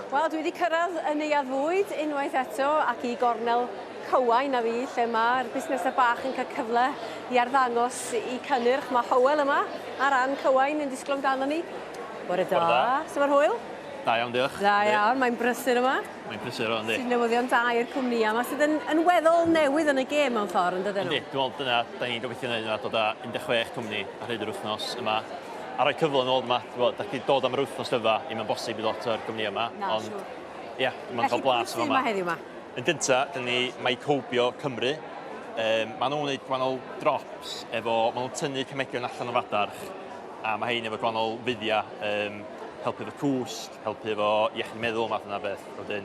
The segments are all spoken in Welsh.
Wel, dwi wedi cyrraedd y neuadd fwyd unwaith eto ac i gornel Cywain a fi lle mae'r busnesau bach yn cael cyfle i arddangos i cynnyrch. Mae Hywel yma ar ran Cywain yn disgwyl amdano ni. Bore da. da. Sut mae'r hwyl? Da iawn, diolch. Da iawn, mae'n brysur yma. Mae'n brysur yma, ynddi. Sy'n newyddion da i'r cwmni a mae sydd yn, yn weddol newydd yn y gêm mewn ffordd, yn dydyn nhw? Ynddi, dwi'n meddwl dyna, da ni'n gobeithio wneud yna dod â 16 cwmni ar hyd yr wythnos yma a rhoi cyfle nôl yma, t'mod, dach chi 'di dod am yr wythnos dydda, ddim yn bosib i lot o'r gwmnïau yma, Na, ond siŵr. ia, ma'n cael blas yn fama. heddiw ma? Yn gynta, dyna ni Mycobio Cymru. Um, maen nhw'n gwneud gwahanol drops efo, maen nhw'n tynnu cemegion allan o fadarch, a mae hein efo gwahanol fuddiau, um, helpu efo cwsg, helpu efo iechyd meddwl, math yna beth. Wedyn,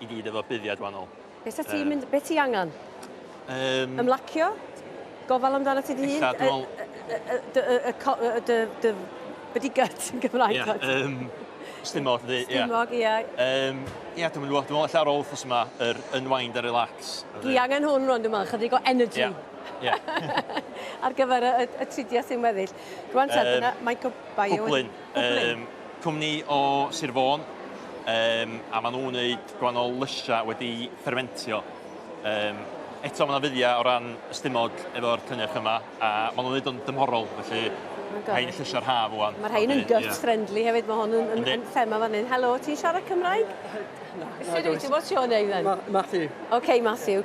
i gyd efo buddiad wahanol. Be sa ti'n mynd... Be ti angen? Um, Ymlacio? Gofal amdano ti dy hun? Ella, dwi'n meddwl... Dy... Dy... Byddi gut yn Gymraeg. Ie, um, stimog, dwi... Stimog, ie. Um, ie, dwi'n meddwl, dwi'n meddwl, ella ar ôl ffos yma, yr unwind a relax. Dwi angen hwn rwan, dwi'n meddwl, chydig o energy. Ie. Yeah. Ar gyfer y, y, y tridiau sy'n weddill. Rwan te, um, dyna Michael Bio. Cwblyn. Yym, cwmni o Sir Fôn, yym, a maen nhw'n wneud gwahanol lysiau wedi ffermentio. Yym, eto mae yna fuddiau o ran ystumod efo'r cynnyrch yma, a maen nhw'n wneud o'n dymhorol, felly rhain yn llysiau'r haf rwan. Mae rhain yn gut friendly hefyd, mae hwn yn, yn thema fan hyn. Helo, ti'n siarad Cymraeg? Na, na, What's your name then? Matthew. OK, Matthew.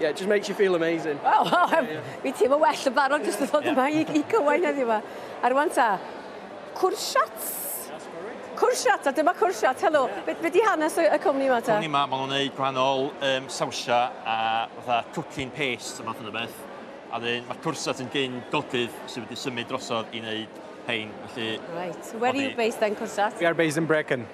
Yeah, it just makes you feel amazing. Wel, oh, oh, yeah. mi teimlo well yn barod jyst yn ddod yma i, i cywain heddiw yma. A rwan ta, cwrsiat. Cwrsiat, a dyma cwrsiat, helo. Yeah. Be, be di hanes y, y cwmni yma ta? Cwmni yma, maen nhw'n gwneud gwahanol um, sawsia a fatha cooking paste a math yna beth. A dyn, mae cwrsiat yn gyn godydd sydd wedi symud drosodd i wneud hein. Felly, right. Where are you based then, Cwrsiat? We are based in Brecon.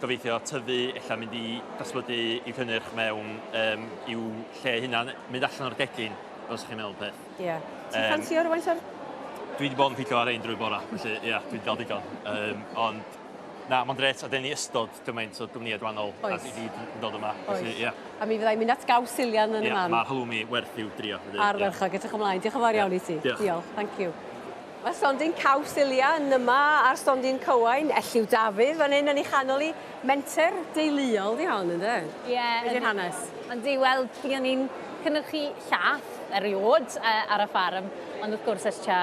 gobeithio tyfu, ella mynd i datblygu i'w cynnyrch mewn um, i'w lle hunan, mynd allan o'r gegin, os chi'n meddwl peth. Ie. Yeah. Ti'n um, ffansio rhywun o'r... Dwi wedi bod yn pico ar ein drwy bora, felly ie, yeah, dwi'n gael digon. Um, ond na, mae'n dret, a dyn ni ystod gymaint o gwmnïau gwahanol a i gyd yn dod yma. Oes. Felly, yeah. A mi fyddai mynd at gaws Silian yn yeah, y man. Mae'r halloumi werth i'w drio. Arferchog, yeah. edrych ymlaen. Diolch yn fawr iawn i ti. Diolch. Thank you. Mae stondin caws Ilya yn yma a'r stondin cywain Elliw Dafydd fan hyn yn ei chanol hi. Menter deuluol 'di hon ynde? Ie. Be 'di'r hanes? Yndi, wel, buon ni'n cynyrchu llath eriôd ar y ffarm, ond wrth gwrs ers tua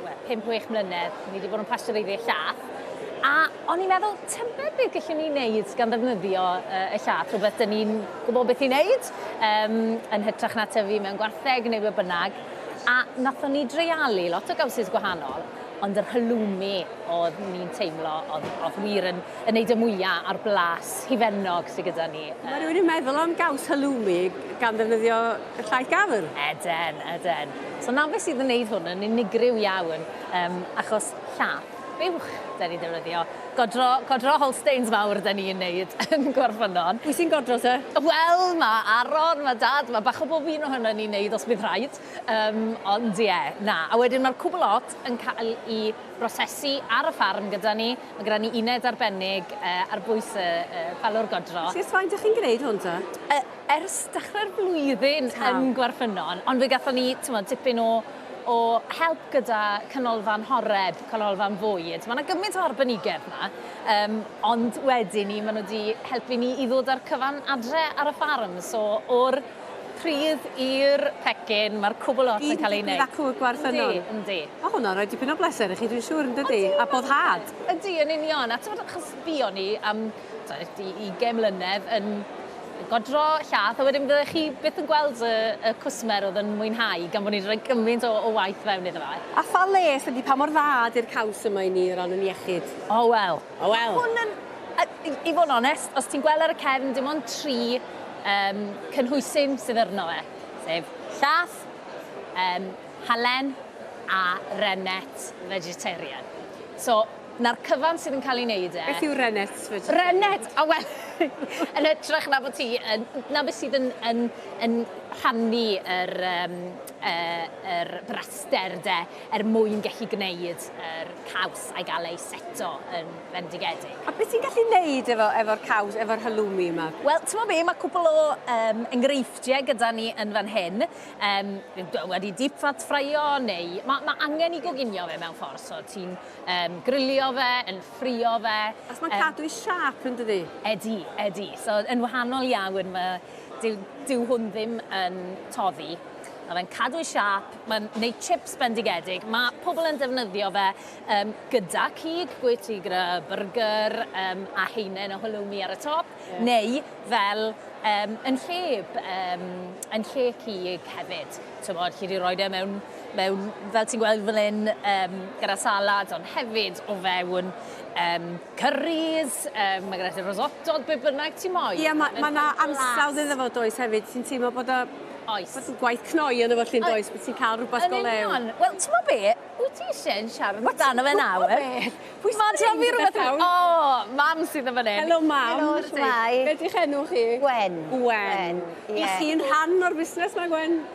wel, pump, chwech mlynedd, ni 'di bod yn pasteureiddio llath. A o'n i'n meddwl, tybed beth gellwn ni wneud gan ddefnyddio y llath, rhywbeth 'dyn ni'n gwybod beth i wneud, yn hytrach na tyfu mewn gwartheg neu be bynnag. A nathon ni dreialu lot o gowsus gwahanol, ond yr halloumi o'dd ni'n teimlo o'dd o'dd wir yn yn neud y mwya' a'r blas hufennog sy gyda ni yy. Ma' rywun yn meddwl am gaws halloumi gan ddefnyddio y llaeth gafr? Ydyn, ydyn. So 'na beth sydd yn neud hwn yn unigryw iawn, yym achos llath buwch 'da ni'n defnyddio. Godro, godro Holsteins fawr 'da ni'n neud yn Gwarfynon. Pwy sy'n godro te? Wel, ma' Aron, ma' Dad, ma' bach o bob un ohonon ni'n neud os bydd rhaid. Yym, ond ie, na. A wedyn ma'r cwbl lot yn cael 'i brosesu ar y ffarm gyda ni. Ma' gyda ni uned arbennig yy ar bwys y y ffarwr godro. So ers faint 'dych chi'n gneud hwn te? E- ers dechre'r flwyddyn yn Gwarfynon, ond fe gathon ni, t'mod, tipyn o o help gyda canolfan horeb, canolfan fwyd. Mae yna gymaint o arbenigedd yma, um, ond wedyn ni, maen nhw wedi helpu ni i ddod â'r cyfan adre ar y ffarm. So, o'r pridd i'r pecyn, mae'r cwbl ots yn cael ei wneud. Un acw y gwarth yno. Yndi, yndi. Mae hwnna'n rhoi dipyn o bleser i chi, dwi'n siŵr, yn dydy? A boddhad. Ydy, yn union. A ti'n achos buon ni am Tibod, i ugain mlynedd yn godro llath, a wedyn fyddech chi byth yn gweld y, y cwsmer oedd yn mwynhau, gan bod ni wedi rhoi gymaint o, o waith fewn iddo fe. A pha les ydy, pa mor dda ydy'r caws yma i ni o ran yn iechyd? O, wel. O, wel. Hwn yn, a, i, i fod yn onest, os ti'n gweld ar y cefn, dim ond tri um, cynhwysyn sydd arno fe, sef llath, um, halen a rennet vegetarian. So, 'na'r cyfan sydd yn cael ei wneud e. Beth yw Rennet? Rennet! O wel, yn hytrach na bod ti yn, 'na be sydd yn, yn, yn rhannu yr, um, uh, yr braster de, er mwyn gallu gwneud yr caws a'i gael ei seto yn fendigedig. A beth ti'n gallu wneud efo, efo'r caws, efo'r halloumi yma? Wel, ti'n mo be, mae cwbl o um, enghreifftiau gyda ni yn fan hyn. Um, wedi deep fat ffraio neu... Mae ma angen i goginio fe mewn ffordd, so ti'n Yym, grilio fe, yn ffrio fe. Achos mae'n cadw ei siâp yn dydi? Ydy, ydy. So, yn wahanol iawn, mae, dyw, dyw hwn ddim yn toddi. Mae fe'n cadw ei siâp, mae'n gwneud chips bendigedig. Mae pobl yn defnyddio fe um, gyda cig, gwyt ti gyda byrgyr um, a heinen o halloumi ar y top, yeah. neu fel um, yn lle, um, yn lle cig hefyd. Ti'n bod, chi wedi rhoi e mewn mewn, fel ti'n gweld fan hyn, um, gyda salad, ond hefyd o fewn um, curries, um, mae gyda risotto, be bynnag ti'n moyn. Ie, mae ma yna ansawdd iddo fo does hefyd, ti'n teimlo bod o Oes. Bod yn gwaith cnoi yn efo llun does, bod ti'n cael rhywbeth go lew. Wel, ti'n mo be? Wyt ti eisiau yn siarad Wyt amdano fe nawr? Pwy sy'n Mae'n trafod fi rhywbeth iawn. O, mam sydd yn fan hyn. Helo, mam. Helo, shwmae. Be di'ch enw chi? Gwen. Gwen. Ie. I chi'n rhan o'r busnes ma, Gwen?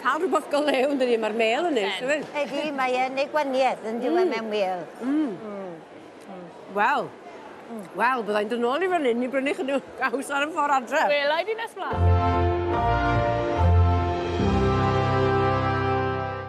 Cael rhywbeth go lew yn dydi, mae'r mêl yn neis, yfyd. Ydy, mae e'n ei gwaniaeth yn diwedd mm. mewn mêl. Mm. Mm. Mm. Wel, mm. wel, byddai'n dod nôl i fan hyn i brynu chydw gaws ar y ffordd adre. Wel, i di nes blaen.